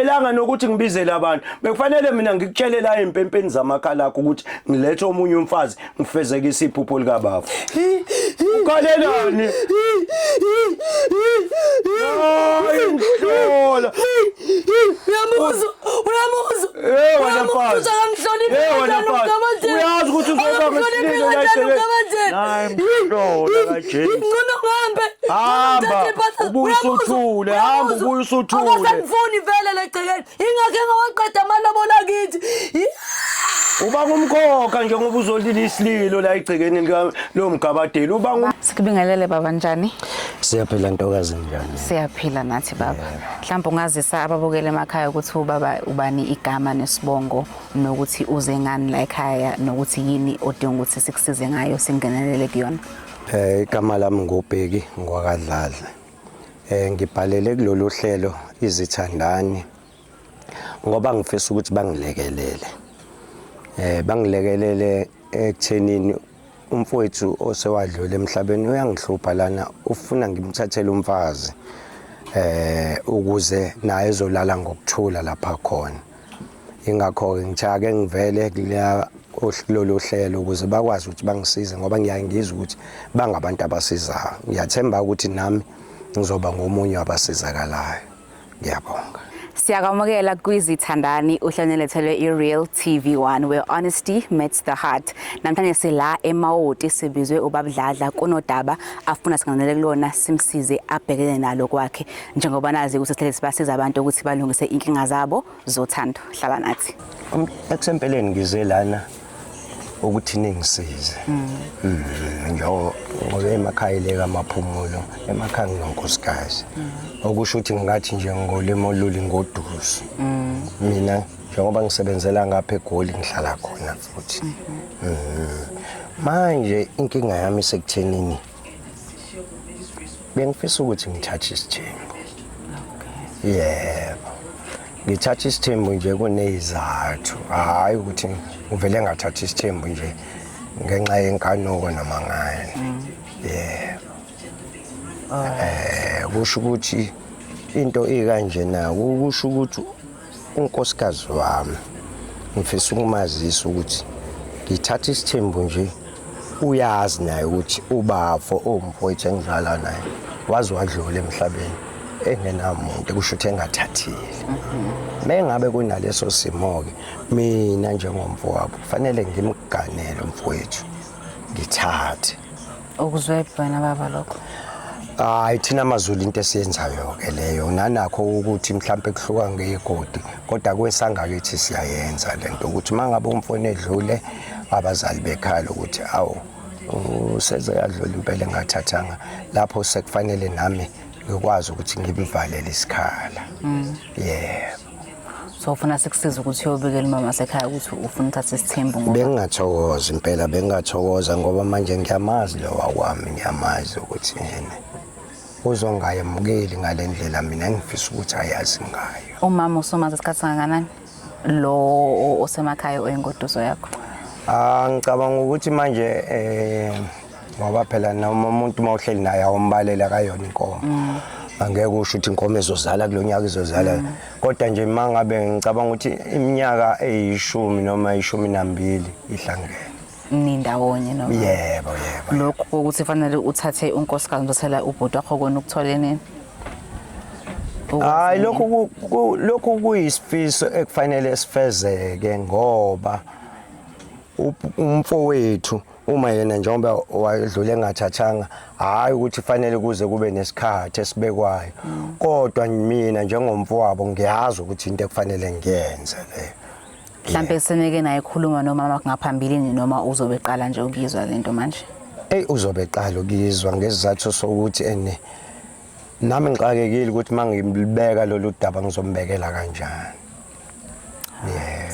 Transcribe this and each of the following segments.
Akufanelanga nokuthi ngibizele abantu. Bekufanele mina ngikutshele la empempeni zamakhala akho ukuthi ngilethe omunye umfazi ngifezekise iphupho likababa. Ukhalelani? Uyamhlola. Uyamuza, uyamuza. Eh wena mfazi. Eh wena mfazi. Uyazi ukuthi uzoba ngesililo la iselwe. Hayi mhlola. James. Ngingcono ngihambe. Hamba. Ubuye usuthule, hamba ubuye usuthule. Akasangifuni vele legcekeni. Ingakhe ngawaqeda amalobolo akithi. Uba ngumkhokha nje ngoba uzolila isililo la egcekeni lika lo mgabadeli. Uba ngum Sikubingelele baba njani? Siyaphila ntokazi njani? Siyaphila nathi baba. Mhlawumbe ungazisa ababukele emakhaya ukuthi ubaba ubani igama nesibongo nokuthi uze ngani la ekhaya nokuthi yini odinga ukuthi sikusize ngayo singenelele kuyona. Eh igama lami ngobheki ngwakadladla. Eh ngibhalele kulolu hlelo izithandani ngoba ngifisa ukuthi bangilekelele. Eh bangilekelele ekuthenini umfowethu osewadlule emhlabeni uyangihlupha lana ufuna ngimthathele umfazi eh ukuze naye ezolala ngokuthula lapha khona. ingakho-ke ngithake ngivele kuleya lolu hlelo ukuze bakwazi ukuthi bangisize ngoba ngiyaye ngizwe ukuthi bangabantu abasizayo ngiyathemba ukuthi nami ngizoba ngomunye wabasizakalayo ngiyabonga siyakwamukela kwizithandani uhlane lethelwe i-real tv 1 where honesty meets the heart namhlanje sila emawoti sibizwe ubabudladla kunodaba afuna singanele kulona simsize abhekene nalo kwakhe njengoba nazi ukuthi sihlale sibasiza abantu ukuthi balungise inkinga zabo zothando hlala nathi um, ekusempeleni ngize lana ukuthi ningisize mm. Mm, njengoba emakhaya le kamaphumulo emakhaya nginonkosikazi mm. okusho ukuthi ngathi nje ngolimo oluli ngoduzu mina njengoba ngisebenzela ngapha egoli ngihlala khona futhi mm-hmm. manje inkinga yami sekuthenini bengifisa ukuthi ngithathe isithembu yebo ngithatha isithembu nje kunezizathu hhayi ukuthi ngivele ngathatha isithembu nje ngenxa yenkanuko noma ngani yebo um kusho ukuthi into ikanjena kusho ukuthi unkosikazi wami ngifisa ukumazisa ukuthi ngithatha isithembu nje uyazi naye ukuthi ubafo owumfowethu engizala naye waze wadlula emhlabeni engenamuntu kusho ukuthi engathathile mengabe kunaleso simo-ke mina njengomfowabo kufanele ngimganele umfowethu ngithathe Ukuzwe wena baba lokho. Hayi thina amazulu into esiyenzayo ke leyo nanakho ukuthi mhlambe kuhluka ngegodi kodwa kwesangalo ethi siyayenza lento ukuthi mangabe umfone edlule abazali bekhala ukuthi awu useze yadlula impela engathathanga lapho sekufanele nami ngikwazi ukuthi ngibivalele isikhala mm. yebo so ufuna sikusiza ukuthi uyobikela umama sekhaya ukuthi ufuna uthathe isithembu ngoba bengingathokoza impela bengingathokoza ngoba manje ngiyamazi lo wakwami ngiyamazi ukuthi yena uzongayemukeli ngale ndlela mina engifisa ukuthi ayazi ngayo umama usomazi isikhathi sangakanani lo osemakhaya oyingoduso yakho ah ngicabanga ukuthi manje eh ngoba phela noma umuntu uma uhleli naye awumbalele akayona inkomo mm. angeke usho ukuthi inkomo izozala kulo nyaka izozala mm. kodwa nje uma ngabe ngicabanga ukuthi iminyaka eyishumi noma ishumi nambili ihlangene nindawonye noma yebo yebo lokhu kokuthi fanele uthathe unkosikazi ndosela ubhuti wakho kona ukuthola nini hayi lokhu lokhu kuyisifiso ekufanele sifezeke ngoba umfowethu uma yena njengoba wadlule engathathanga hhayi ukuthi fanele kuze kube nesikhathi esibekwayo mm. kodwa mina njengomfowabo ngiyazi ukuthi into ekufanele ngiyenze leyo mhlampe seneke naye khuluma nomama kungaphambilini noma uzobe qala nje ukuyizwa lento manje eyi uzobe qala ukuyizwa ngesizathu sokuthi ene nami ngixakekile ukuthi uma ngilibeka lolu daba ngizombekela kanjani yeah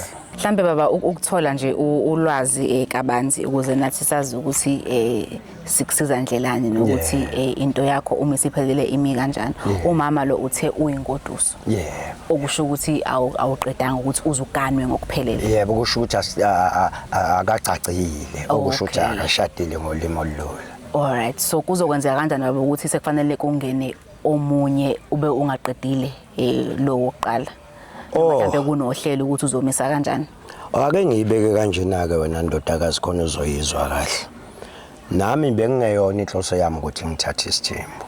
mhlambe baba ukuthola nje ulwazi eh, kabanzi ukuze nathi sazi ukuthi eh, sikusiza ndlelani nokuthi eh, into yakho uma isiphelele imi kanjani umama lo uthe uyingoduso yeah okusho ukuthi awuqedanga ukuthi uzuganwe ngokuphelele yebo kusho ukuthi akagcagcile okusho ukuthi akashadile ngolimo olulula all right so kuzokwenzeka kanjani baba ukuthi sekufanele kungene omunye ube ungaqedile eh, lo wokuqala Oh. mhlawumbe kunohlelo ukuthi uzomisa kanjani ake ngiyibeke kanjena-ke wena ndodakazi khona uzoyizwa kahle nami bengingeyona inhloso yami ukuthi ngithathe isithembu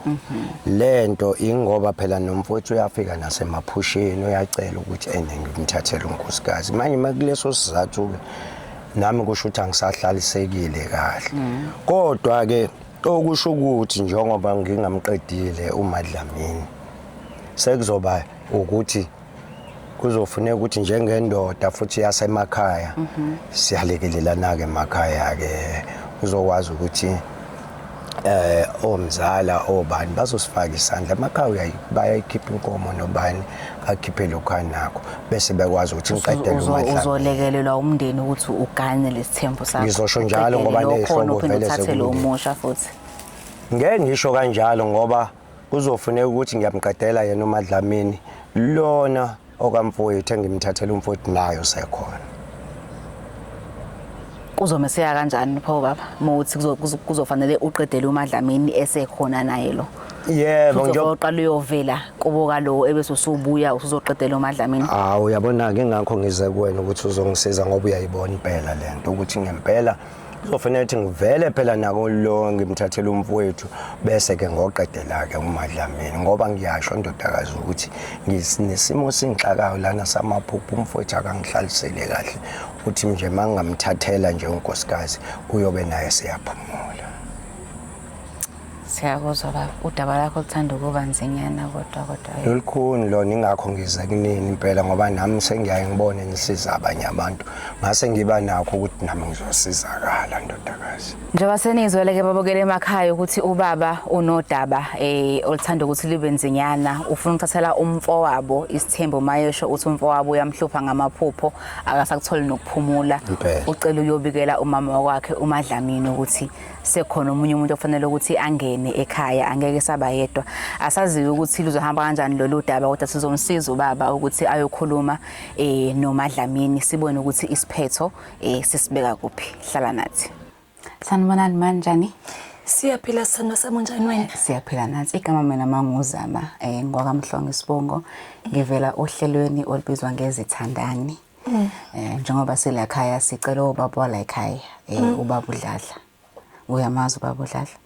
le nto ingoba phela nomfowethu uyafika nasemaphusheni uyacela ukuthi ene ngimthathele unkosikazi manje uma kuleso sizathu-ke nami kusho ukuthi angisahlalisekile kahle kodwa-ke okusho ukuthi njengoba ngingamqedile umadlamini sekuzoba ukuthi kuzofuneka ukuthi njengendoda futhi yasemakhaya mhm. siyalekelelana-ke emakhaya-ke uzokwazi ukuthi eh omzala obani bazosifaka isandla emakhaya bayayikhipha inkomo nobani akhiphe lokho anakho bese bekwazi ukuthi ngiqedele umadlala uzolekelelwa umndeni ukuthi ugane lesithembu sakho ngizosho njalo ngoba nezihlobo vele sekumusha futhi ngeke ngisho kanjalo ngoba Kuzofuneka ukuthi ngiyamqedela yena uMadlamini lona okamfowethu engimthathela umfowethu nayo sekhona. Kuzomeseka kanjani pho baba? Muthi kuzofanele uqedele uMadlamini esekhona naye lo. Yebo nje uzoqala uyovela kubo kalowo ebese usubuya usuzoqedela uMadlamini. Hawu uyabona ke ngakho ngize kuwena ukuthi uzongisiza ngoba uyayibona impela lento ukuthi ngempela kuzofanele ukuthi ngivele phela nako lo ngimthathele umfowethu bese ke ngoqedela ke umadlamini ngoba ngiyasho ndodakazi ukuthi nginesimo singixakayo lana samaphupho umfowethu akangihlalisele kahle uthi nje mangingamthathela nje unkosikazi uyobe naye seyaphumula siyakuzwa baba udaba lakho luthanda ukuba nzinyana kodwa kodwa lolukhuni lona ingakho ngize kunini impela ngoba nami sengiyaye ngibone ngisiza abanye abantu ngase ngiba nakho ukuthi nami ngizosizakala ndodakazi njengoba senizweleke babukele emakhaya ukuthi ubaba unodaba eh oluthanda ukuthi libe nzinyana ufuna ukuthathela umfowabo isithembo mayesho uthi umfowabo uyamhlupha ngamaphupho akasakutholi nokuphumula ucela uyobikela umama wakhe umadlamini ukuthi sekhona omunye umuntu ofanele ukuthi angene ekhaya angeke saba yedwa asaziwe ukuthi luzohamba kanjani lolu daba kodwa sizomsiza ubaba ukuthi ayokhuluma eh nomadlamini sibone ukuthi isiphetho eh sisibeka kuphi hlala nathi sanibonani manjani siyaphila sithando sami unjani wena siyaphila nathi igama mina manguzama eh ngwakamhlongo isibongo ngivela ohlelweni olubizwa ngezithandani mm. eh njengoba sila khaya sicela ubaba wala ekhaya eh mm. ubaba udladla uyamazi ubaba udladla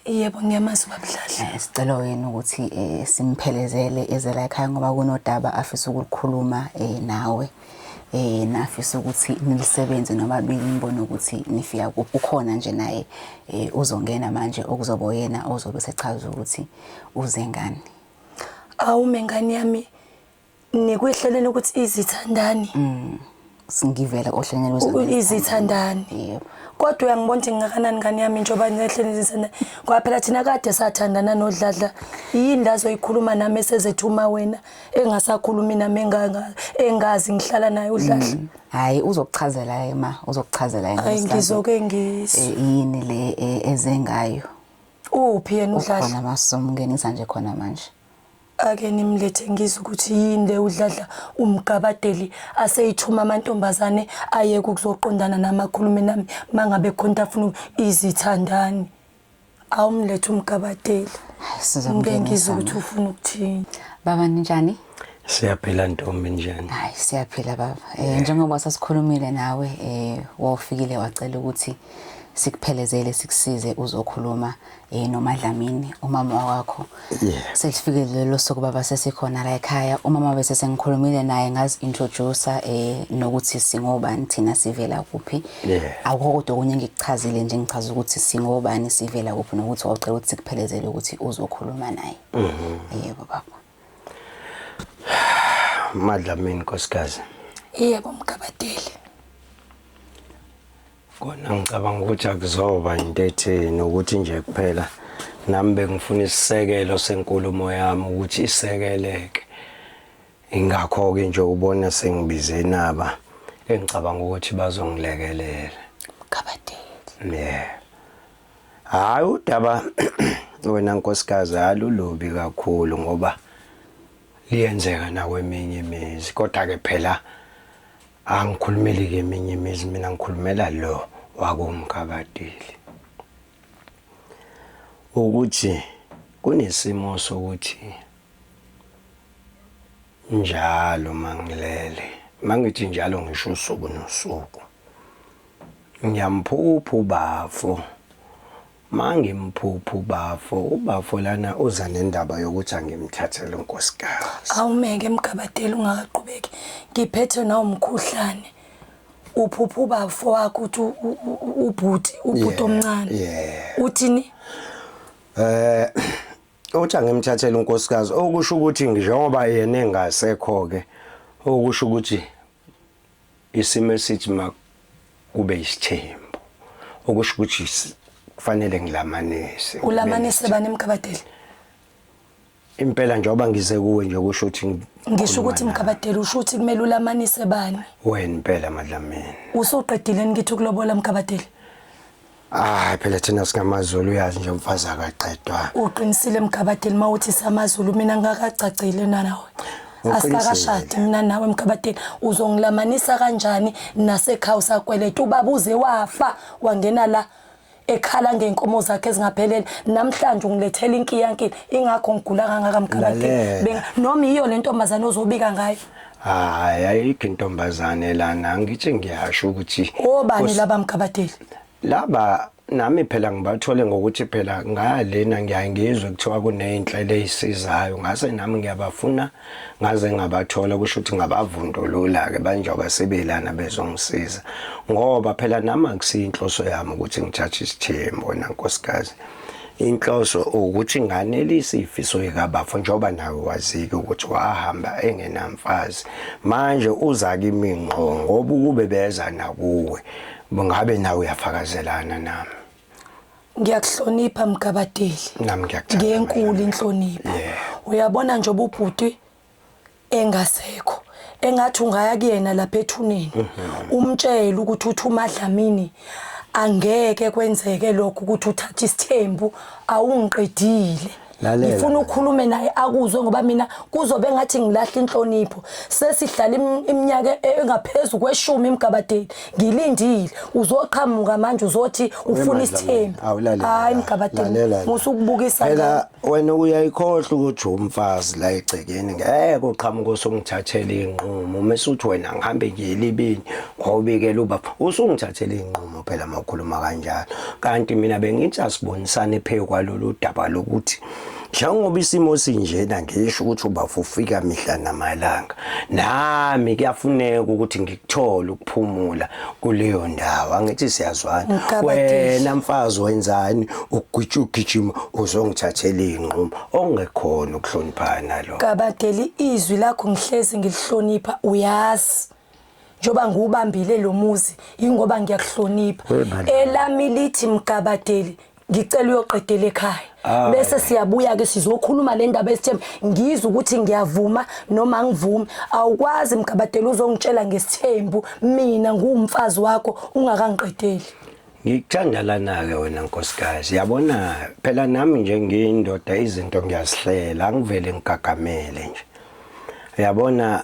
Yebo ngiyamazi ubaba Dladla. Eh, sicela wena ukuthi eh, simphelezele ezela ekhaya ngoba kunodaba afisa ukulikhuluma eh, nawe. Eh nafisa ukuthi nilisebenze nobabili ngibone ukuthi nifika kuphi ukhona nje naye uzongena manje okuzobo yena ozobe sechaza ukuthi uze ngani. Awume ngani yami nikwehleleni ukuthi izithandani mm. singivela ohlelweni lwezithandani izithandani yebo kodwa uyangibona ukuthi ngingakanani ngane yami njengoba nginehleni izisana ngoba phela thina kade sathandana nodladla yini la zoyikhuluma nami esezethuma wena engasakhulumi nami engazi ngihlala naye udladla mm. hayi uzokuchazela yena ma uzokuchazela yena hayi ngizoke ngizwe eh, yini le eh, ezengayo uphi yena udladla khona masomngenisa nje khona manje Ake nimlethe ngizwe ukuthi yini le udladla umgabadeli aseyithuma amantombazane ayeke ukuzoqondana nami akhulume nami mangabe khonta afuna izithandani awumlethe umgabadeli ngeke ngizwe ukuthi ufuna ukuthini baba ninjani Siyaphila ntombi njani? Hayi siyaphila baba. Eh njengoba sasikhulumile nawe eh wawufikile wacela ukuthi sikuphelezele sikusize uzokhuluma Eh noma Dlamini umama wakho yeah. selifike lelo suku baba sesikhona la ekhaya umama bese sengikhulumile naye ngazi introduce eh nokuthi singobani thina sivela kuphi yeah. akukho kodwa okunye ngikuchazile nje ngichaza ukuthi singobani sivela kuphi nokuthi wawucela ukuthi sikuphelezele ukuthi uzokhuluma naye mm -hmm. yebo baba Madlamini nkosikazi Yebo mgabadeli Kona ngicabanga ukuthi akuzoba into etheni ukuthi nje kuphela nami bengifuna isisekelo senkulumo yami ukuthi isekeleke. Ingakho-ke nje ubona sengibize naba engicabanga ukuthi bazongilekelela. Kabadeli. Yeah. Hayi udaba wena nkosikazi alulubi kakhulu ngoba liyenzeka nakweminye imizi kodwa ke phela Angikhulumeli-ke eminye imizi mina ngikhulumela lo wakomkabadeli ukuthi kunesimo sokuthi njalo mangilele mangithi njalo ngisho usuku nosuku ngiyamphupha ubafo Mangi mphuphu bafo ubafo lana uza nendaba yokuthi angimthathele unkosikazi. Awumeke mgabadeli ungaqhubeki. Ngiphethe nawo umkhuhlane. Uphupha ubafo wakho uthi ubhuti ubhuti omncane. Uthini? Eh uthi angimthathele unkosikazi okusho ukuthi njengoba yena engasekho ke okusho ukuthi isimo esithi makube isithembu okusho ukuthi kufanele ngilamanise ulamanise bani mkabadeli impela njengoba ngize kuwe nje kusho ukuthi ngisho ukuthi mkabadeli usho ukuthi kumele ulamanise bani wena impela madlamini usuqedile ngithi ukulobola mkabadeli Hayi phela thina singamaZulu uyazi nje umfazi akaqedwa. Uqinisile Mgabadeli mawuthi samaZulu mina ngakagcagcile nanawe. Asikakashadi mina nawe Mgabadeli uzongilamanisa kanjani nasekhaya usakweleta ubaba uze wafa wangena la ekhala ngenkomo zakhe ezingaphelele namhlanje ungilethela inkiyankile ingakho ngigula kangaka Mgabadeli. Noma iyo le ntombazane ozobika ngayo. hayi ayikho intombazane lana ngithi ngiyasho ukuthi obani Kus- laba mgabadeli laba nami phela ngibathole ngokuthi phela ngalena ngiyaye ngizwe kuthiwa kuney'nhlelo ey'sizayo ngase nami ngiyabafuna ngaze ngabathola kusho ukuthi ngabavundulula-ke banjengoba sebelana bezongisiza ngoba phela nami akusiyinhloso yami ukuthi ngithathe isithembu wena nkosikazi inhloso ukuthi nganelisa ifiso yekabafo njengoba nawe wazike ukuthi wahamba engenamfazi manje uza kimi ngqo ngoba ukube beza nakuwe ngabe nawe uyafakazelana nami ngiyakuhlonipha mgabadeli nami ngiyakuthanda ngenkulu inhlonipho uyabona nje ububhuti engasekho engathi ungaya kuyena lapha ethuneni mhm. umtshele ukuthi uthi umadlamini angeke kwenzeke lokho ukuthi uthathe isithembu awungiqedile ngifuna ukhulume naye akuzwe ngoba mina kuzobe ngathi ngilahla inhlonipho sesihlala iminyaka engaphezulu kweshumi emgabadeni ngilindile uzoqhamuka manje uzothi ufuna isithembu hayi mgabadini musukubukisa phela wena uyayikhohla ukuthi umfazi la egcekeni ngeke uqhamuka usungithathela inqumo mase uthi wena ngihambe ngiyelibini ngobikela ubaba usungithathela inqumo phela makhuluma kanjalo kanti mina bengithi asibonisane phezu kwalolu daba lokuthi njengoba isimo sinjena ngisho ukuthi ubafo ufika mihla namalanga nami kuyafuneka ukuthi ngikuthole ukuphumula kuleyo ndawo angithi siyazwana wena mfazi wenzani ukugwitsha ugijima uzongithathela inqumo ongekhona ukuhloniphana lo kabadeli izwi lakho ngihlezi ngilihlonipha uyazi njoba ngiwubambile lo muzi ingoba ngiyakuhlonipha elami lithi mgabadeli ngicela uyoqedela ekhaya ah, bese siyabuya ke sizokhuluma le ndaba esithemba ngizwe ukuthi ngiyavuma noma angivume awukwazi mgabadeli uzongitshela ngesithembu mina nguwumfazi wakho ungakangiqedeli ngikuthandalana-ke wena nkosikazi yabona phela nami nje ngiyindoda izinto ngiyazihlela angivele ngigagamele nje uyabona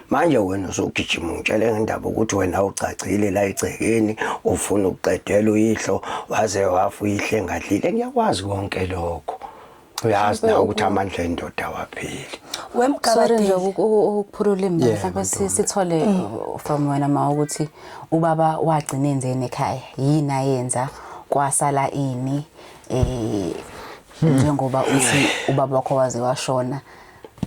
manje wena usugijima ungitshele ngendaba ukuthi wena ugcagcile la egcekeni ufuna ukuqedela uyihlo waze wafa uyihle ngadlile ngiyakwazi konke lokho uyazi na ukuthi amandla endoda wapheli sorry nje ukuphula ulimi mhlawumbe sithole mm. from wena ma ukuthi ubaba wagcina enzeni ekhaya yini ayenza kwasala ini eh hmm. njengoba uthi ubaba wakho waze washona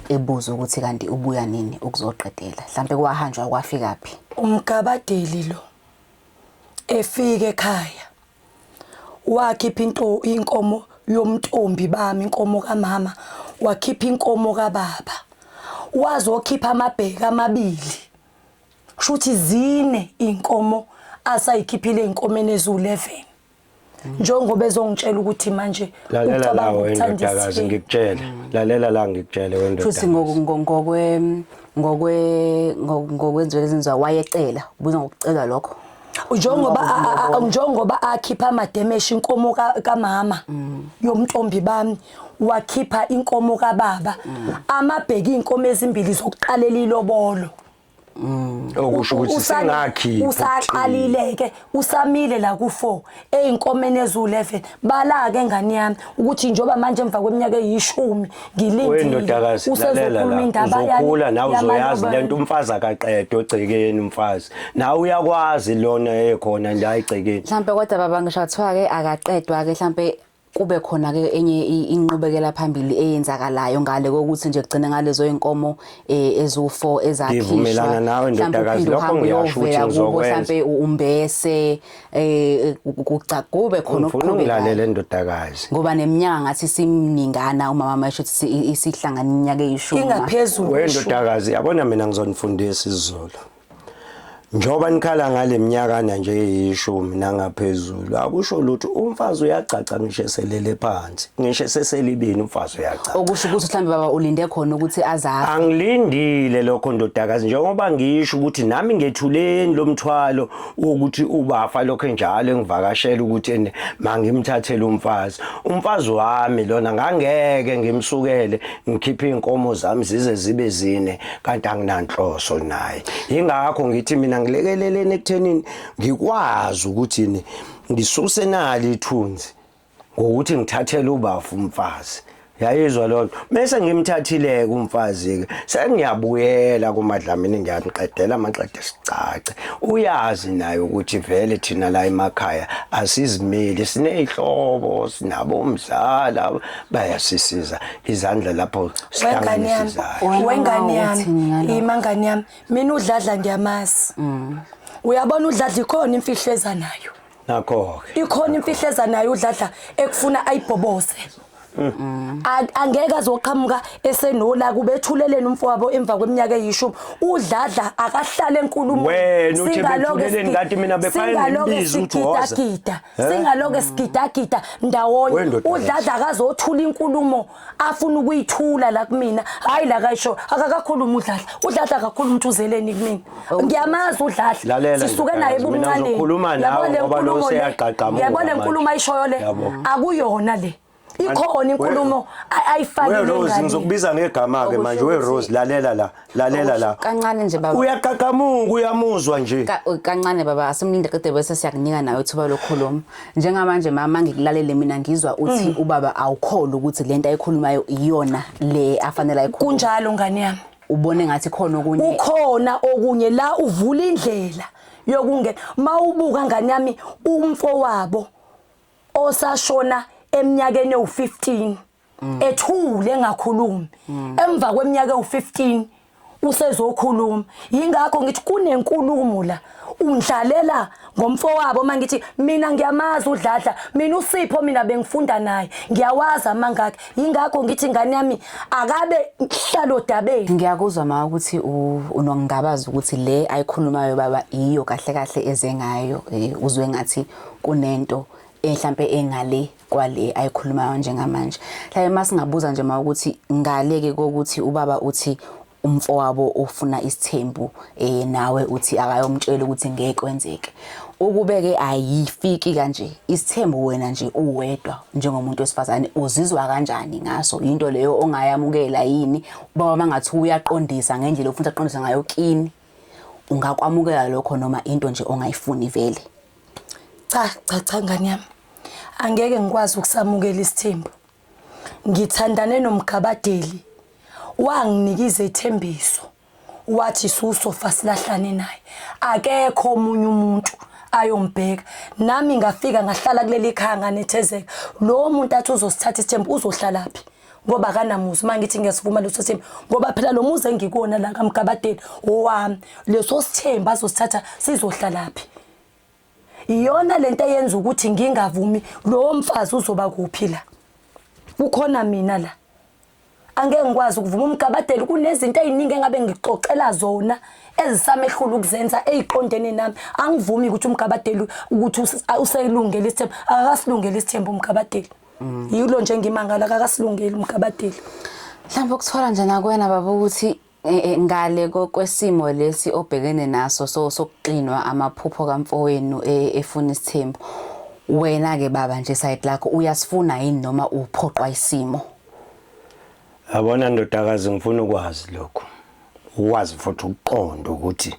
ebuza ukuthi kanti ubuya nini ukuzoqedela mhlambe kwahanjwa kwafika phi umgabadeli lo efike ekhaya wakhipha into inkomo yomntombi bami inkomo kamama wakhipha inkomo kababa wazokhipha amabheke amabili kushuthi zine inkomo asayikhiphile inkomeni ezu11 njengoba ezongitshela ukuthi manje lalela lawo endodakazi ngikutshele lalela la ngikutshele wendodakazi futhi ngokwe ngokwe ngokwenziwa lezinzwa wayecela ubuza ngokucela lokho njengoba njengoba akhipha amademeshi inkomo kamama yomntombi bami wakhipha inkomo kababa amabheki inkomo ezimbili zokuqalela ilobolo Mm. okusho ukuthi Usali- singakhi usaqalile ke usamile la ku4 einkomeni ezu11 bala ke ngani yami ukuthi njoba manje emva kweminyaka eyishumi ngilindile wendodakazi lalela la indaba yani- uzokhula nawe yamanye uzoyazi abantu. lento umfazi akaqede ogcekeni umfazi nawe uyakwazi lona ekhona nje ayigcekeni mhlampe kodwa baba ngisho kuthiwa-ke akaqedwa-ke mhlampe kube khona ke enye inqubekela phambili eyenzakalayo ngale kokuthi nje kugcine ngalezo inkomo eh, ezu4 ezakhishwa ngivumelana nawe ndodakazi lokho ngiyasho ukuthi ngizokwenza mhlambe umbese eh kugcagube khona ukuqhubeka ngilalele ndodakazi ngoba neminyaka ngathi simningana umama masho isihlangana iminyaka eyishumi ingaphezulu wendodakazi yabona mina ngizonifundisa isizulu Njengoba nikhala ngale minyakana nje eyishumi nangaphezulu akusho lutho umfazi uyagcagca ngisho eselele phansi ngisho seselibini umfazi uyagcagca okusho ukuthi mhlambe baba ulinde khona ukuthi azazi angilindile lokho ndodakazi njengoba ngisho ukuthi nami ngethuleni lomthwalo ukuthi ubafa lokho njalo engivakashela ukuthi mangimthathele umfazi umfazi wami lona ngangeke ngimsukele ngikhiphe izinkomo zami zize zibe zine kanti anginanhloso naye ingakho ngithi mina ngilekeleleni ekuthenini ngikwazi ukuthi ni ngisuse nali ithunzi ngokuthi ngithathele ubafu umfazi yayizwa lonto bese ngimthathile ke umfazi ke sengiyabuyela kumadlamini ngiyamqedela amaqede sicace uyazi naye ukuthi vele thina la emakhaya asizimeli sinezihlobo sinabo umzala bayasisiza izandla lapho wengane yami sihlanganisizayo wengane yami Uthini ngalokho? ima ngane yami mina udladla ngiyamazi Mm. uyabona udladla ikhona imfihlo eza nayo nakho-ke ikhona imfihlo eza nayo udladla ekufuna ayibhoboze Mm. A- angeke azoqhamuka esenola kubethuleleni umfowabo emva kweminyaka eyishumi udladla akahlale enkulumweni Wena uthi Singaloke bethuleleni, sithi- kanti mina befane singaloke ngibize ukuthi woza. sikitakita. singaloke sigidagida ndawonye udladla akazothula inkulumo afuna ukuyithula la kumina hayi la kayisho akakakhuluma udladla udladla kakhulu umuntu uzeleni kumina oh. ngiyamazi udladla sisuke naye ebumncane yabona inkulumo le yabona inkulumo ayishoyo le akuyona le ikhona inkulumo ayifakile ngani Rose ngizokubiza ngegama ke manje we Rose lalela la lalela la kancane nje baba uyaqhaqhamuka uyamuzwa nje kancane baba asimlinde qede bese siyakunika nayo ithuba lokhuluma njengamanje mama ngikulalele mina ngizwa uthi mm. ubaba awukholi ukuthi lento ayikhulumayo iyona le afanele ayikhulume kunjalo ngani yami ubone ngathi khona okunye ukhona okunye la uvula indlela yokungena mawubuka ngani yami umfo wabo osashona eminyakeni ewu-15 mm. ethule engakhulumi mm. emva kweminyaka ewu-15 usezokhuluma yingakho ngithi kunenkulumo la undlalela ngomfowabo uma ngithi mina ngiyamazi udladla mina usipho mina bengifunda naye ngiyawazi amangakhe yingakho ngithi ingane yami akabe hlalo dabeni ngiyakuzwa ma ukuthi unongingabaza ukuthi le ayikhulumayo baba iyo kahle kahle eze ngayo eh, uzwe ngathi kunento mhlampe engale kwale ayikhulumayo njengamanje mhlawumbe masingabuza nje ma ukuthi ngale ke kokuthi ubaba uthi umfowabo ufuna isithembu eh nawe uthi akayomtshela ukuthi ngeke kwenzeke ukubeke ayifiki kanje isithembu wena nje uwedwa njengomuntu wesifazane uzizwa kanjani ngaso into leyo ongayamukela yini baba mangathi uyaqondisa ngendlela ofuna aqondisa ngayo kini ungakwamukela lokho noma into nje ongayifuni vele cha cha cha ngane yami angeke ngikwazi ukusamukela isithembu ngithandane nomgabadeli wanginikiza ethembiso wathi susofa silahlane naye akekho omunye umuntu ayombheka nami ngafika ngahlala kuleli khaya nganethezeka lo muntu athi uzosithatha isithembu uzohlalaphi ngoba akanamuzi uma ngithi ngiyasivuma leso sithembu ngoba phela lo muzi engikuwona la kamgabadeni owami leso sithembu azosithatha sizohlalaphi iyona lento eyenza ukuthi ngingavumi lowo mfazi uzoba kuphi la kukhona mina la angeke ngikwazi ukuvuma umgabadeli kunezinto eziningi engabe ngixoxela zona ezisamehlula ukuzenza eziqondene nami angivumi ukuthi umgabadeli ukuthi uselungele isithembu akasilungele isithembu umgabadeli Mm. Yilo nje ngimangala kakasilungeli umgabadeli. Mhlawumbe ukuthola nje nakwena baba ukuthi Eh, eh, ngale kwesimo lesi obhekene naso so sokuxinwa amaphupho kamfowenu eh, efuna isithembu wena ke baba nje side lakho uyasifuna yini noma uphoqwa isimo Yabona ndodakazi ngifuna ukwazi lokho. Ukwazi futhi ukuqonda ukuthi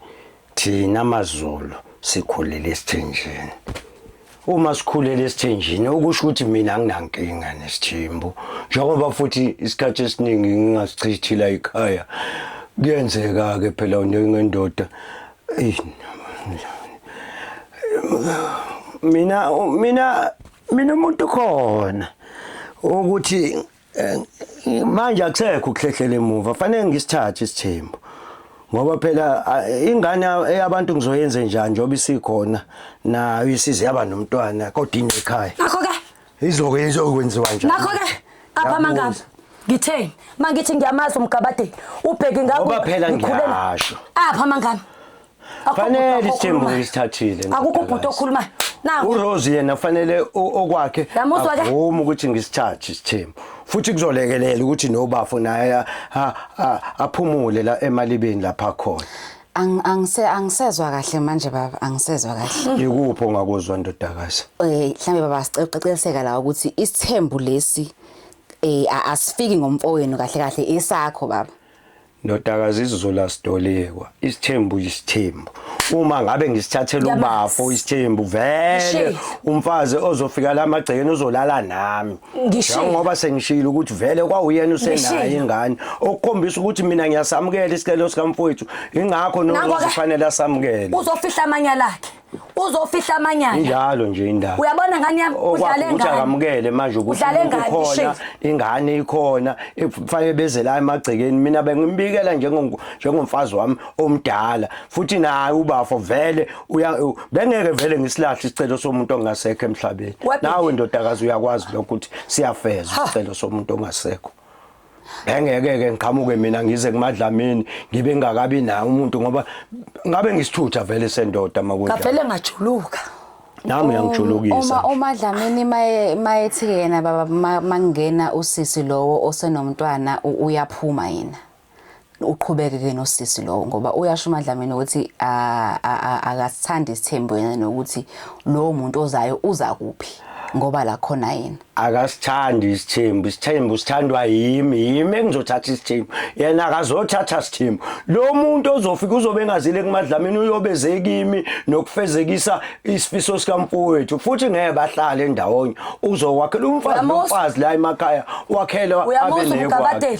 thina maZulu sikhulele esithenjini. Uma sikhulele esithenjini okusho ukuthi mina nginankinga nesithimbu njengoba futhi isikhathi esiningi ngingasichithila ikhaya kuyenzeka ke phela unendoda mina mina mina umuntu khona ukuthi Eh, manje akusekho ukuhlehlela emuva fanele ngisithathe isithembu ngoba phela ingane eyabantu ngizoyenze njani njengoba isikhona nayo isize yaba nomntwana kodwa inqe ekhaya nakho ke izoke izokwenziwa njani nakho ke apha mangaba ngitheni mangithi ngiyamazi umgabade ubheke ngakho ngoba phela ngiyasho apha mangaba Akukho fanele bhuti isithembu okhulumayo. isithathile akukho bhuti ndodakazi. okhulumayo naku urose yena fanele o- okwakhe Yamuzwa ke? avume ukuthi ngisithathe isithembu futhi kuzolekelela ukuthi nobafo naye a- a- a- aphumule la emalibeni lapha khona Ang- angise- angisezwa kahle manje baba angisezwa kahle ikuphi ongakuzwa ndodakazi eh mhlambe baba siqeqeliseka la ukuthi isithembu lesi eh a- asifiki ngomfowenu kahle kahle esakho baba Ndodakazi isizulu asidolekwa isithembu isithembu uma ngabe ngisithathela ubafo isithembu vele umfazi ozofika la magcekeni uzolala nami ngoba sengishilo ukuthi vele kwawuyena usenayo ingane okukhombisa ukuthi mina ngiyasamukela isicelo sikamfowethu ingakho nokufanele asamukele uzofihla amanyala akhe uzofihla amanyala injalo nje indaba uyabona ngani yami udlale ngani akamukele manje ukuthi ukhona ingane ikhona ekufanele beze la emagcekeni mina bengimbikela njengomfazi wami omdala futhi naye ubafo vele bengeke vele ngisilahle isicelo somuntu ongasekho emhlabeni nawe ndodakazi uyakwazi lokho ukuthi siyafeza isicelo somuntu ongasekho engeke-ke ngiqhamuke mina ngize kumadlamini ngibe ngingakabi naye umuntu ngoba ngabe ngisithutha vele sendoda makunja ngavele ngajuluka nami uyangijulukisa uma uma dlamini maye mayethi yena baba mangena usisi lowo osenomntwana uyaphuma yena uqhubeke ke nosisi lowo ngoba uyasho uMadlamini ukuthi akasithandi isithembu yena nokuthi lowo muntu ozayo uza kuphi ngoba la khona yena akasithandi isithembu isithembu sithandwa yimi yimi engizothatha isithembu yena akazothatha isithembu lo muntu ozofika uzobe engazile kumadlamini uyobe zekimi nokufezekisa isifiso sikamfowethu futhi ngeke bahlale ndawonye uzokwakhela umfazi nomfazi la emakhaya wakhela abe nekwakhe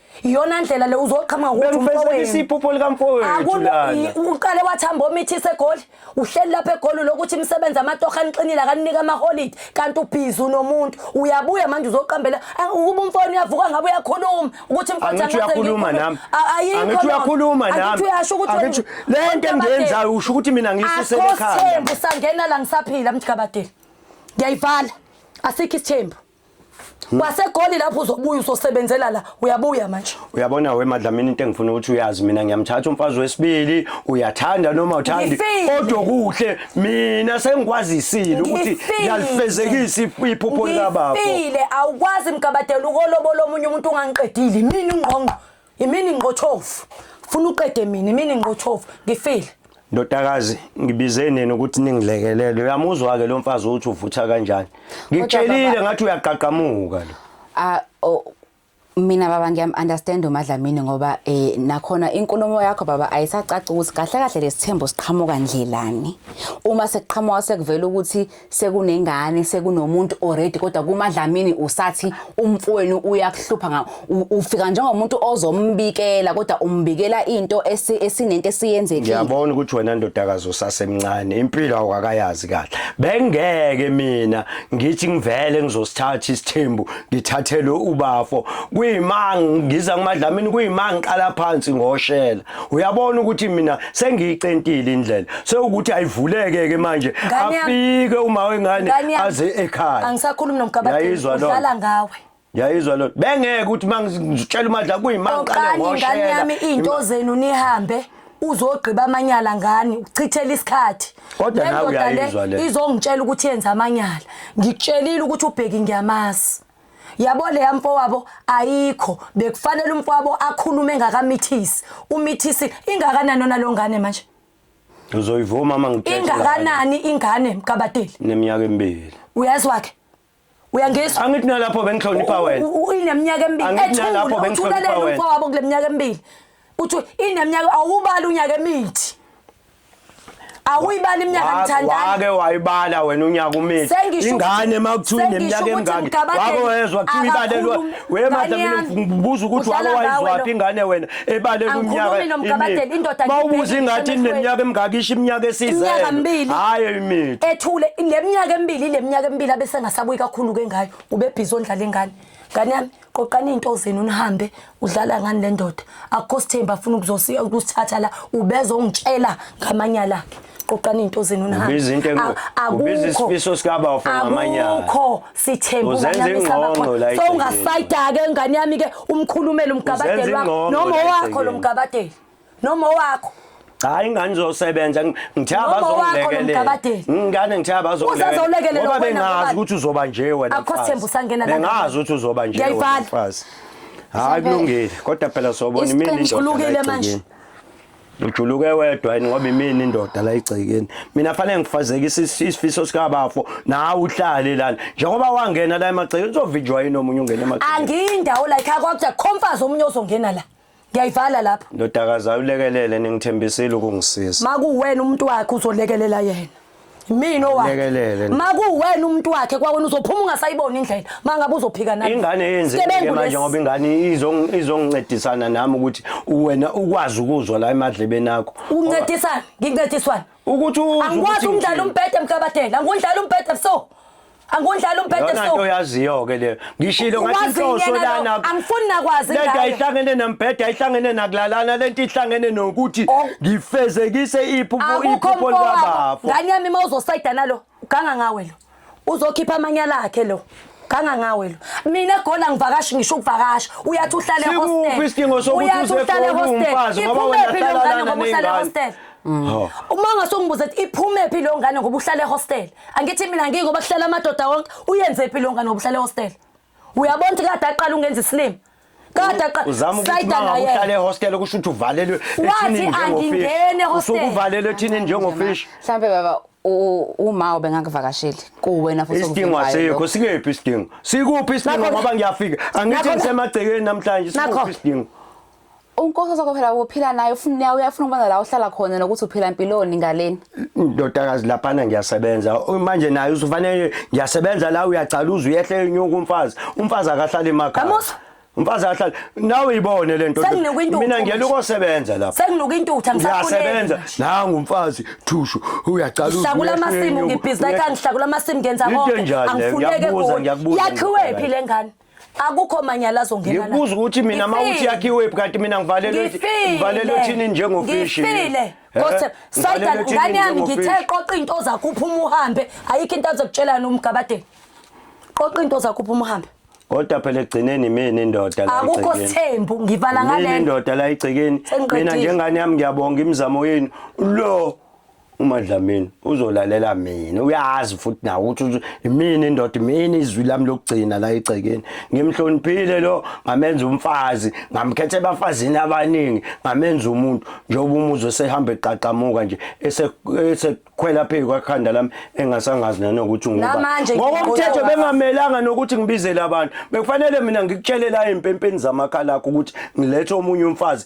iyona ndlela le uzoqhamuka ukuthi bengifezekisa umfowenu iphupho likamfowethu Akube- lana i- uqale wathamba omithise egoli uhleli lapha egoli lokuthi imisebenzi amatoha aniqinile akaninika amaholidi kanti ubhizi unomuntu uyabuya manje uzoqambela Ah, ukuba umfowenu uyavuka ngabe uyakhuluma ukuthi mfowethu angithi angase uyakhuluma ngikhulume. nami A- ayikho angithi loo nto. uyakhuluma Angithi nami uyasho ukuthi Angithi- wena- le nto Mntabadeli, engiyenzayo usho ukuthi mina ngiyisusele akho ekhanda sithembu sangena la ngisaphila mthikabadeli ngiyayivala asikho isithembu Hmm. kwasegoli lapho uzobuya usosebenzela la uyabuya manje uyabona we madlamini into engifuna ukuthi uyazi mina ngiyamthatha umfazi wesibili uyathanda noma uthandi kodwa kuhle mina sengikwazisile ukuthi ngiyalifezekisa iphupho likababa ngifile awukwazi mgabadela ukolobolo omunye umuntu ungangiqedile mina ungqongqo Imini ngqothofu. Funa uqede mina imini ngqothofu. Ngifile. Ndodakazi ngibize nini ukuthi ningilekelele uyamuzwa ke lo mfazi uthi uvutha kanjani ngitshelile ngathi uyaqaqamuka lo ah mina baba ngiyam understand uMadlamini ngoba eh nakhona inkulumo yakho baba ayisacaca ukuthi kahle kahle lesithembu siqhamuka ndlelani uma sekuqhamuka sekuvela ukuthi sekunengane sekunomuntu already kodwa kumadlamini usathi umfowenu uyakuhlupha nga ufika njengomuntu ozombikela kodwa umbikela into esinento esiyenzekile ngiyabona ukuthi wena ndodakazi usasemncane impilo awukakayazi kahle bengeke mina ngithi ngivele ngizosithatha isithembu ngithathele ubafo kuyimanga ngiza kumadlamini kuyimanga ngiqala phansi ngoshela uyabona ukuthi mina sengiyicentile indlela sewukuthi ayivuleke ke manje afike uma wengane aze ekhaya angisakhulumi nomgabadeli udlala ngawe yayizwa lona bengeke ukuthi mangitshela umadla kuyimanga qale ngoshela ngane yami into zenu nihambe uzogqiba amanyala ngani uchithela isikhathi kodwa nawe uyayizwa le izongitshela ukuthi yenza amanyala ngikutshelile ukuthi ubheki ngiyamazi yabo leya mfowabo ayikho bekufanele umfowabo akhulume engakamithisi umithisi ingakanani ona lo ngane manje uzoyivuma uma ngithethe ingakanani ingane mkabateli neminyaka emibili uyazi wakhe uyangizwa angithi nalapho bengihlonipha wena ineminyaka emibili ethula lapho bengihlonipha wena umfowabo kuleminyaka emibili uthi ineminyaka awubali unyaka emithi awuyibali iminyaka ngithandana wake wayibala wena unyaka umithi ingane uma kuthiwa ineminyaka emingaki wake wezwa kuthiwa ibalelwa we manje mina ngibuza ukuthi wake wayizwaphi ingane wena ebalelwa umnyaka mawubuza ingathi ineminyaka emingaki isho iminyaka esizele hayi imithi ethule le minyaka emibili le minyaka emibili abesengasabuyi kakhulu ke ngayo ubebhizi ondlala ingane ngane yami qoqani into zenu nihambe udlala ngani le ndoda akukho sithemba afuna ukuzosiya ukusithatha la ubezongitshela ngamanyala akhe qoqani into zenu nihambeakubizisa isifiso sikabafo ngamanyala akukho sithemba unganamisabakho so ungasayidake ingane yami-ke umkhulumele umgabadeli wakho noma owakho lo mgabadeli noma owakho hayi ingane zosebenza ngithe abazongilekelela ingane ngithe abazongilekelela ngoba bengazi ukuthi uzoba nje wena akho sithembu sangena la bengazi ukuthi uzoba nje wena mfazi hayi kulungile kodwa phela sobona imini indoda manje ujuluke wedwa yini ngoba imini indoda la igcekeni mina fanele ngifazeke isifiso sikabafo nawe uhlale lana njengoba wangena la emagcekeni uzovinjwa yini omunye ungena emagcekeni angiyindawo la ikhaya kwakuthi khomfazi omunye ozongena la ngiyayivala lapho ndodakazi ulekelele ningithembisile ukungisiza makuwena umuntu wakhe uzolekelela yena mina owakhe makuwena umuntu wakhe kwawena uzophuma ungasayiboni indlela mangabe uzophika nami ingane yenzekile manje ngoba ingane izongincedisana nami ukuthi wena ukwazi ukuzwa la emadlebeni akho uncedisana ngincediswana ukuthi angikwazi umdlalo umbhede mkabadela ngundlala umbhede so Angundlala umphethe Yona so. nto yaziyo ke le. Ngishilo ngathi Wazi inhloso yena lo, lana. angifuni nakwazi Lento ngayo. ayihlangene nembheda, ayihlangene nakulalana, lento ihlangene nokuthi Oh. ngifezekise iphupho Akukho iphupho mfowabo. likabafo. Ngane yami uma uzosayida nalo, ganga ngawe lo. Uzokhipha amanyala akhe lo. Ganga ngawe lo. Mina egoli angivakashi ngisho ukuvakasha. Uyathi uhlale Sikuphi hostel. isidingo sokuthi Uyathi uze uhlale eGoli hostel. uwumfazi ngoba wena Iphumephi uhlala lengane lana ngoba uhlale ney'ngane? hostel? Hawu. Uma ungasongibuza ukuthi iphumephi leyo ngane ngoba uhlale hostel. angithi mina ngingoba kuhlala amadoda wonke uyenze phi longa nobuhlale hostel uyabona ukuthi kade aqala ungenza isilima kade aqalahlale hostel kusho ukuthi uvalelwe wathi angingene hostel usukuvalelwe thini njengofish mhlambe baba uma ubengakuvakasheli kuwena futhi isidingo asikho sikephi isidingo sikuphi isidingo ngoba ngiyafika angithi ngisemagcekeni namhlanje sikuphi isidingo unkosi sakho phela uphila naye ufuna naye uyafuna ukubona la uhlala khona nokuthi uphila mpiloni ngaleni ndodakazi laphana ngiyasebenza manje naye usufanele ngiyasebenza la uyagcaluza uyehle enyuka umfazi umfazi akahlali emakhaya Kamusa umfazi akahlali nawe ibone lento mina ngiyela ukosebenza lapha senginuka intutha ngisasebenza nangu umfazi thushu uyagcaluza ngihlakula amasimu ngibhizinisi kangihlakula amasimu ngenza konke angifuneke kuyo yakhiwe phi lengane akukho manyala azongena la ngikubuza ukuthi mina mawuthi yakhiwe kanti mina ngivalelwe ngivalelwe thini njengofishi ngifile kodwa eh? sayida ngane yami ngithe qoqa into zakho uphuma uhambe ayikho into azokutshela nomgabadeni qoqa into zakho uphuma uhambe kodwa phela egcineni mina indoda la akukho sithembu ngivala ngale indoda la igcikeni mina njengane yami ngiyabonga imizamo yenu lo uma Dlamini uzolalela mina uyazi futhi nawe ukuthi imini indoda imini izwi lami lokugcina la egcekeni ngimhloniphile lo ngamenza umfazi ngamkhetha ebafazini abaningi ngamenza umuntu njengoba umuzi osehamba eqaqamuka nje esekhwela phezu kwakhanda lami engasangazi nanokuthi ngubani ngokomthetho bengamelanga nokuthi ngibizele abantu bekufanele mina ngikutshelele empempeni zamakhalakho ukuthi ngilethe omunye umfazi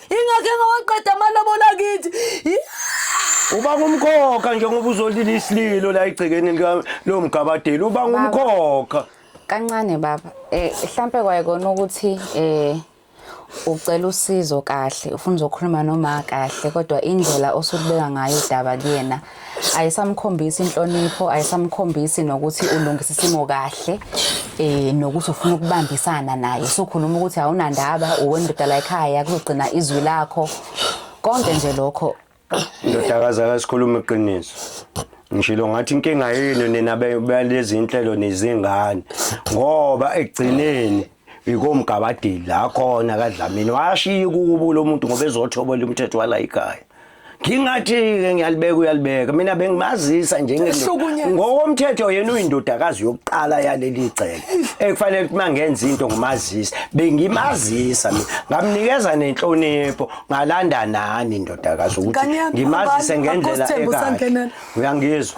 ingakho engawaqeda amalobola kithi uba ngumkhokha njengoba uzolila isililo la egcekeni lo mgabadeli uba ngumkhokha kancane baba eh mhlambe kwayekona ukuthi eh ucela usizo kahle ufuna uzokhuluma noma kahle kodwa indlela osukubeka ngayo udaba kuyena ayisamkhombisi inhlonipho ayisamkhombisi nokuthi ulungisa isimo kahle eh nokuthi ufuna ukubambisana naye sokhuluma ukuthi awunandaba uwendoda la ekhaya kuzogcina izwi lakho konke nje lokho ndodakazi akasikhuluma iqiniso ngishilo ngathi inkinga yenu nina balezi inhlelo nezingane ngoba ekugcineni ikomgabadeli la khona kaDlamini washiya ukubula umuntu ngoba ezothobola umthetho wala ikhaya ngingathi-ke ngiyalibeka uyalibeka mina bengimazisa njengokomthetho yena uyindodakazi yokuqala yaleli cele ekufanele ukuthi uma ngenza into ngumazisa bengimazisa mina ngamnikeza nenhlonipho ngalanda nani indodakazi ukuthi ngimazise ngendlela ekahle uyangizwa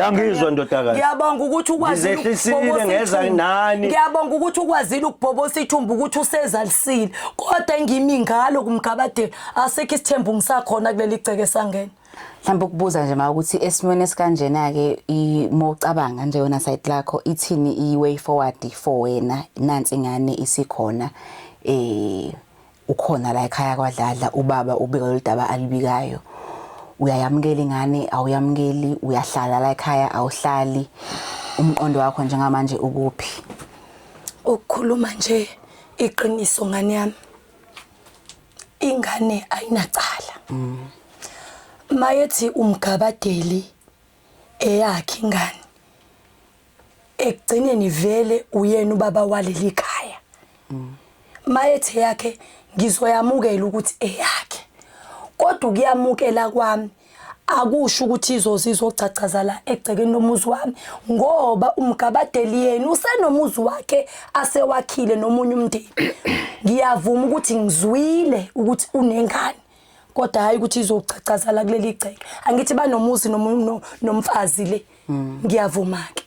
Yangizwa ndodakazi. Ngiyabonga ukuthi ukwazile ukubhobosa ngeza nani. Ngiyabonga ukuthi ukwazile ukubhobosa ithumbu ukuthi usezalisile. Kodwa engimi ngalo kumgabade asekho isithembu ngisakhona kuleli gceke sangena. Mhlawumbe ukubuza nje ma ukuthi esimweni esikanjena ke uma ucabanga nje yona side lakho ithini i way forward for wena nansi ngane isikhona eh ukhona la ekhaya kwaDladla ubaba ubika lolu daba alibikayo uyayamukela ingane awuyamukeli uyahlala la ekhaya awuhlali umqondo wakho njengamanje ukuphi ukukhuluma nje iqiniso ngane yami ingane ayinacala mm. mayethi umgabadeli eyakhe ingane ekugcineni vele uyena ubaba waleli khaya mayethe yakhe ngizoyamukela ukuthi eyakhe kodwa ukuyamukela kwami akusho ukuthi izoze izogcagcazala egcekeni lomuzi wami ngoba umgabadeli yena usenomuzi wakhe asewakhile nomunye umndeni ngiyavuma ukuthi ngizwile ukuthi unengane kodwa hayi ukuthi izogcagcazala kuleli gceke angithi banomuzi nomfazi le mm. ngiyavuma ke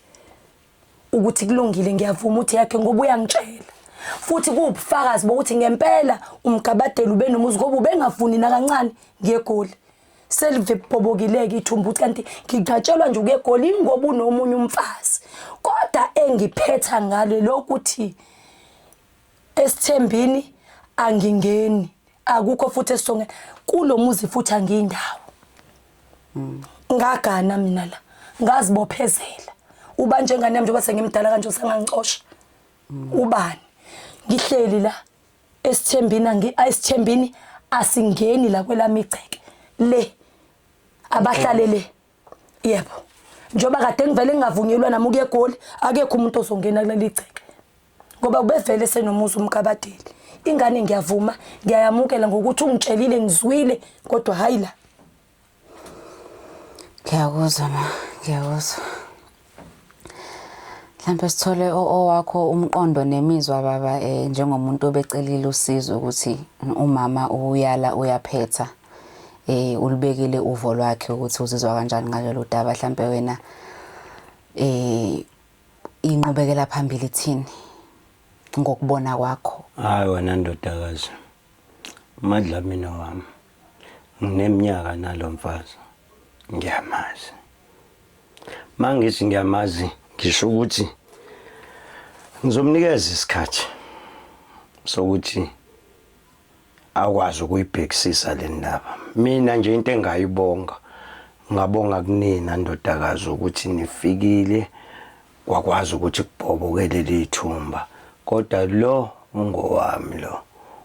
ukuthi kulungile ngiyavuma uthi yakhe ngoba uyangitshela futhi kuwubufakazi bokuthi ngempela umgabadela ube nomuzi ngoba ubengafuni nakancane ngiyegoli selivebhobokileke ithumbu ukuthi kanti ngiqatshelwa nje ukuyegoli ngoba unomunye umfazi kodwa engiphetha ngale lokuthi esithembini angingeni akukho futhi esonge kulomuzi futhi angiyindawo mm. ngagana mina la ngazibophezela uba njengane yami njengoba sengimdala kanje usangangicosha mm. ubani ngihleli la esithembini angi ayisithembini asingeni la kwelami igceke le abahlalele yebo njengoba kade ngivele ngingavunyelwa nami ukuya egoli akekho umuntu ozongena kuleli gceke ngoba ubevele senomuzi umkabadeli ingane ngiyavuma ngiyayamukela ngokuthi ungitshelile ngizwile kodwa hayi la ngiyakuzwa ma ngiyakuzwa mhlampe sithole owakho umqondo nemizwa baba eh njengomuntu obecelile usizo ukuthi umama uyala uyaphetha eh ulibekile uvo lwakhe ukuthi uzizwa kanjani ngalelo daba mhlampe wena eh inqubekela phambili thini ngokubona kwakho hayi wena ndodakazi madlamini wami ngineminyaka nalomfazi ngiyamazi Mangithi ngiyamazi ngisho ukuthi ngizomnikeza isikhathi sokuthi akwazi ukuyibhekisisa le ndaba mina nje into engayibonga ngabonga kunina ndodakazi ukuthi nifikile kwakwazi ukuthi kubhoboke leli thumba kodwa lo ungowami lo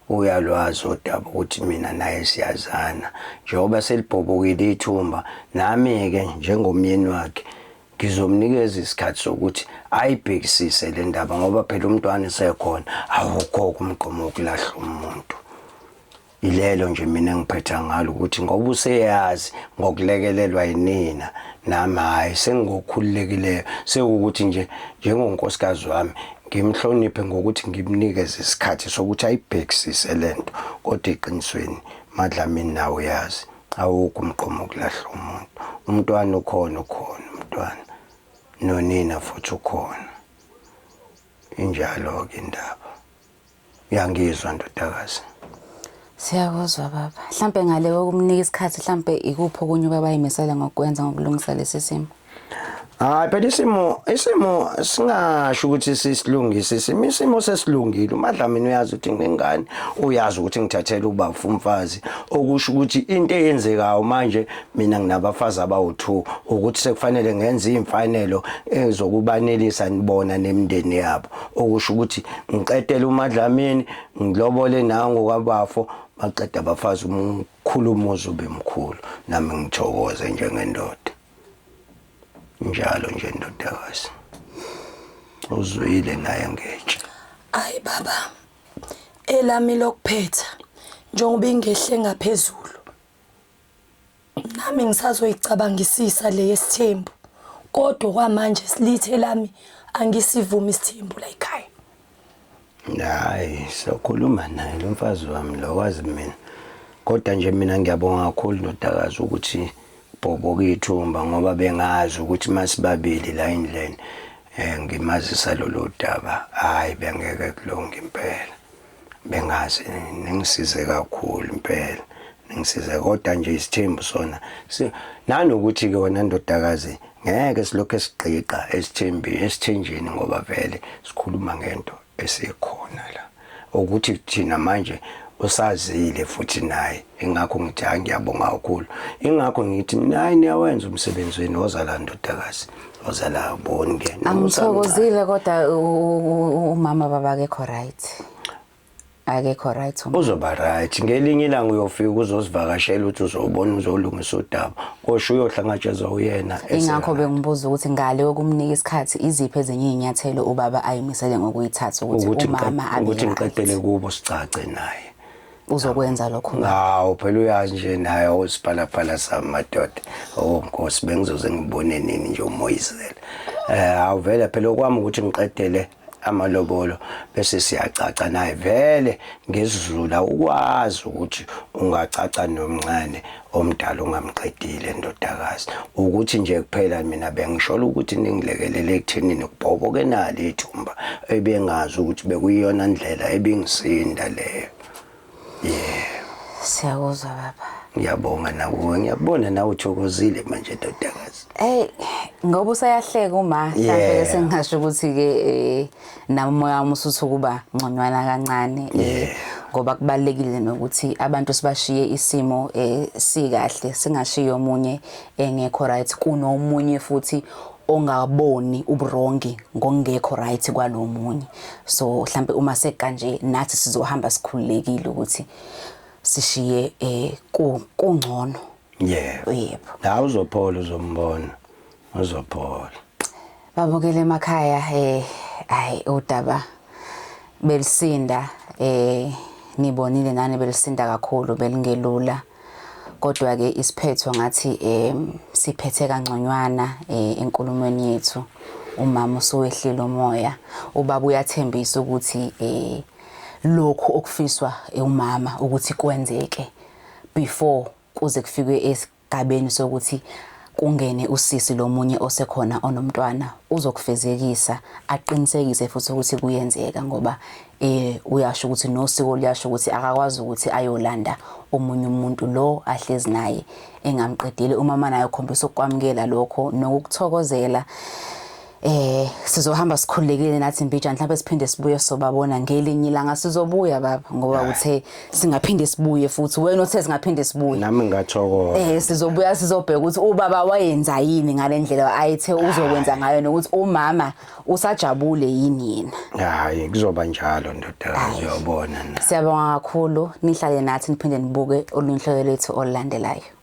uyalwazi udaba ukuthi mina naye siyazana njengoba selibhobokile ithumba nami-ke njengomyeni wakhe ngizomnikeza isikhathi sokuthi ayibhekisise le ndaba ngoba phela umntwana esekhona awukho-ke umgqomo wokulahlwa umuntu Yilelo nje mina engiphetha ngalo ukuthi ngoba useyazi ngokulekelelwa yinina nami hhayi sengigokhululekileyo sewukuthi nje njengonkosikazi wami ngimhloniphe ngokuthi ngimnikeze isikhathi sokuthi ayibhekisise le nto kodwa eqinisweni madlamini nawe uyazi awukho umqomo wokulahla umuntu umntwana ukhona ukhona umntwana nonina futhi ukhona injalo-ke indaba uyangizwa ndodakazi Siyakuzwa baba. Mhlambe ngale kokumnika isikhathi mhlambe ikuphi okunye ubaba ayimesela ngokwenza ngokulungisa lesi simo. Hayi phela isimo isimo singasho ukuthi sisilungise isimo isimo sesilungile umadlamini uyazi ukuthi ngingane uyazi ukuthi ngithathela uba umfazi okusho ukuthi into eyenzekayo manje mina nginabafazi abawu2 ukuthi sekufanele ngenze imfanelo ezokubanelisa nibona nemndeni yabo okusho ukuthi ngiqedele umadlamini ngilobole nango kwabafo baqeda abafazi umkhulu umuzi ube mkhulu nami ngithokoze njengendoda njalo nje ndodakazi uzwile naye ngetshe ayi baba elami lokuphetha njengoba ingehle ngaphezulu nami ngisazoyicabangisisa le yesithembu kodwa kwamanje silithe lami angisivumi isithembu la ekhaya hayi sokhuluma naye lo mfazi wami lo wazi mina kodwa nje mina ngiyabonga kakhulu ndodakazi ukuthi bhoboka ithumba ngoba bengazi ukuthi masibabili la endlini um ngimazisa lolu daba hhayi bengeke kulunge impela bengazi ningisize kakhulu impela ngisize kodwa nje isithembu sona nanokuthi ke wena ndodakazi ngeke silokhu esigqiqa esithembi esithenjini ngoba vele sikhuluma ngento esikhona la ukuthi thina manje usazile futhi naye ingakho ngithi hayi ngiyabonga kakhulu ingakho ngithi nayi niyawenza umsebenzi wenu wozala ndodakazi Uzala uboni ke. Angithokozile kodwa umama baba akekho right. Akekho right umama. Uzoba right. Ngelinye ilanga uyofika uzosivakashela uthi uzobona uzolungisa udaba. Kosho uyohlangajeza uyena. Ingakho bengibuza ukuthi ngale okumnika isikhathi iziphi ezinye izinyathelo ubaba ayimisele ngokuyithatha ukuthi umama abe ukuthi ngiqedele kubo sicace naye. uzokwenza lokho manje hawo phela uyazi nje naye usiphalaphala sami madoda oh nkosi bengizoze ngibone nini nje umoyizela eh awuvele phela okwami ukuthi ngiqedele amalobolo bese siyacaca naye vele ngesizulu ukwazi ukuthi ungacaca nomncane omdala ungamqedile ndodakazi ukuthi nje kuphela mina bengishola ukuthi ningilekelele ekuthenini kubhoboke nalo ithumba ebengazi ukuthi bekuyiyona ndlela ebingisinda leyo yeah siyakuzwa baba ngiyabonga nakuwe ngiyabona nawe uthokozile manje ndodakazi hey ngoba usayahleka uma mhlawumbe sengingasho ukuthi-ke um nami umoya wami usuthi ukuba ngconywana kancane eh ngoba kubalekile nokuthi abantu sibashiye isimo eh sikahle singashiyo omunye engekho right kunomunye futhi ongaboni ubrongi ngongekho right kwalomunye so mhlambe uma sekanje nathi sizohamba sikhululekile ukuthi sishiye eh kungcono yebo yebo la uzophola uzombona uzophola babukele emakhaya eh hayi udaba belisinda eh nibonile nani belisinda kakhulu belingelula kodwa ke isiphetho ngathi eh siphethe kangconywana eh enkulumweni yethu umama usuwehlile umoya ubaba uyathembisa ukuthi eh lokhu okufiswa umama ukuthi kwenzeke before kuze kufikwe gabeni sokuthi kungene usisi lomunye osekhona onomntwana uzokufezekisa aqinisekise futhi ukuthi kuyenzeka ngoba eh uyasho ukuthi nosiko liyasho ukuthi akakwazi ukuthi ayolanda omunye umuntu lo ahlezi naye engamqedile uma manje ayokhombisa ukwamukela lokho nokukuthokozela Eh sizohamba sikhululekile nathi mbija mhlawumbe siphinde sibuye sobabona ngelinye ilanga sizobuya baba ngoba uthe singaphinde sibuye futhi wena uthe singaphinde sibuye nami ngathokoza eh sizobuya sizobheka ukuthi ubaba wayenza yini ngalendlela ayithe uzokwenza ngayo nokuthi umama usajabule yini yena hayi kuzoba njalo ndodana uyobona siyabonga kakhulu nihlale nathi niphinde nibuke olunhlelo lwethu olulandelayo